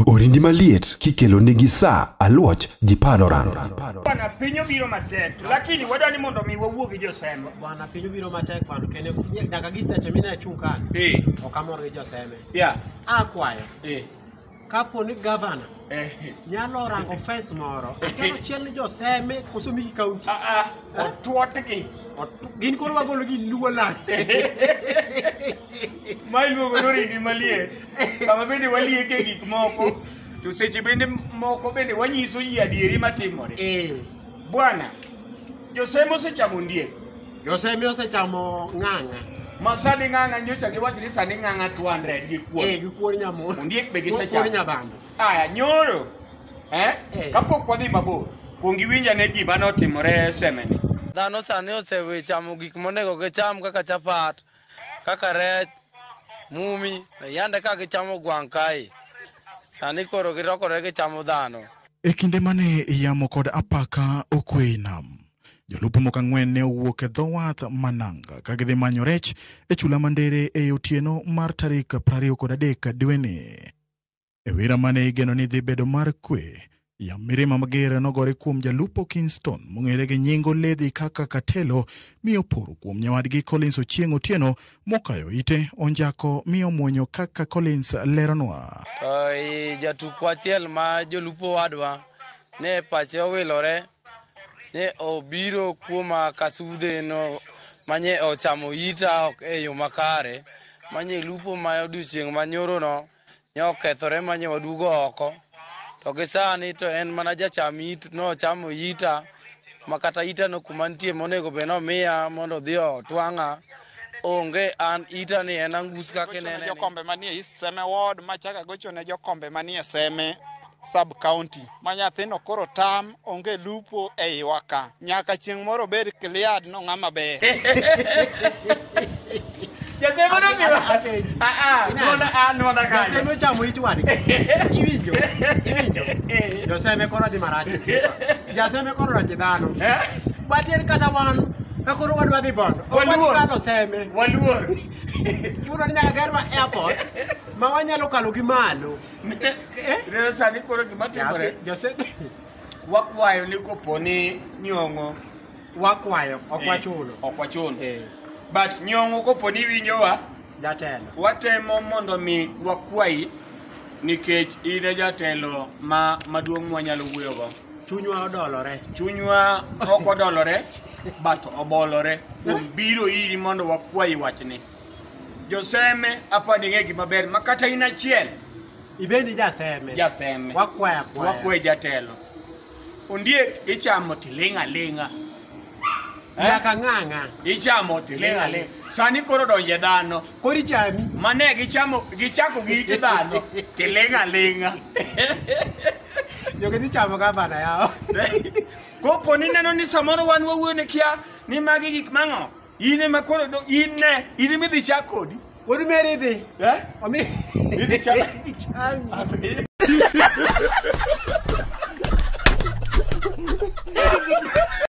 Orindi maliet kikelo nigi sa aluoch ji panoran. Bwana piny obiro matek lakini wadwa ni mondo mi wawuo gi joseme. Bwana piny obiro matek bwana kendo nyaka gi seche mine achung' ka. Eh. Ok amor gi joseme. Yeah. Akwayo. Eh. Kapo ni gavana eh. nyalo rango fes moro akelo chiel ni joseme koso migi kaunti. Ah ah. Eh? Otuotgi. Gin koro wagolo gi luo lande. ma iluongo ni orindi maliet kama bende walieke gik moko to seche bende moko bende wanyiso ji adieri matimore Eh, bwana josem osechamo ndiek josemi osechamo ng'ang'a ma sani ng'ang'a nyocha giwacho ni sani ng'ang'a 200 gi kuon Eh, gi kuon nyamondo Ondiek be gisechamo. kuon nyabando aya nyoro eh? Eh. kapok wadhi mabor kuong iwinja ne gima notimore semeni Dhano sani osechamo gik monego gicham kaka chapat, kaka rech, mumi, yande ka gichamo gwang' kae. Sani koro gilokore gichamo dhano. E kinde mane yamo kod apaka okwe e nam, jolupo moko ang'wen ne owuok e dho wath ma nanga ka gidhi manyo rech e chula ma Ndere e otieno mar tarik 23 dweni. E wira mane igeno ni dhi bedo mar kwe, yam mirima mager nogore kuom jalupo Kingston mong'ere gi nying Oledhi kaka Katelo mi oporo kuom nyawadgi Collins Ochieng Otieno mokayo ite onjako mi omwonyo kaka Collins leronwa. To i jatukwa achiel ma jolupo wadwa ne pache owilore ne obiro kuoma kasudhe no manye ochamo ita ok e yo makare manye lupo ma odiochieng' manyoro no ne okethore ma nyo wadugo oko to gi sani to en mana jacham it nochamo ita ma kata ita no kuma nitie monego bed nomiya mondo odhi otwang'a onge an ita ni en angus kaka inene jokombe manie East Seme Ward machaka gocho ne jokombe manie Seme sub county ma nyathino koro tam onge lupo e iwa ka nyaka chieng' moro bed cleared no ng'ama ber Jatemo no biro. Ah ah, nona ah nona ka. Joseme ochamo it wadgi. Iwinjo? Iwinjo? Joseme koro dhi marach. Joseme koro rangi dhano. Batin kata wan ka koro wadwa dhi bondo. Ok wadhi kadho seme. Waluor. Chuno ni nyaka gerwa airport ma wanyalo kalo gi malo. ne Eh? ineno sani koro gima timore Jabi- Jose wakwayo ni kopo ni nyong'o wakwayo ok eh, wachulo. ok wachuno Eh, but nyong'o kopo ni winjowa jatelo. watemo mondo mi wakwayi nikech in e jatelo ma maduong' mwanyalo wuoyogo Chunywa odolore. chunywa ok odolore but obolore kuom biro iri mondo wakwayi wachni Joseme hapa ni ng'egi maber ma kata in achiel Ibendi jaseme. jaseme Wakwaya to kwaya. wakwe jatelo. Ondiek ichamo tiling' aling'a. Eh? Nyaka ng'ang'a. Ichamo tiling' aling'a. Sani koro donje dhano. Koro ichami. Mane gichamo gichako gi iti dhano tiling' aling'a. Jogeni chamo gavana yao. Kopo ni neno ni samoro wan wawuone kia ni magi gik mang'o In ema koro do in ne, in ema idhi chak kodi. Wuod Meri dhi. Eh? Omi. Idhi chak. Ichami.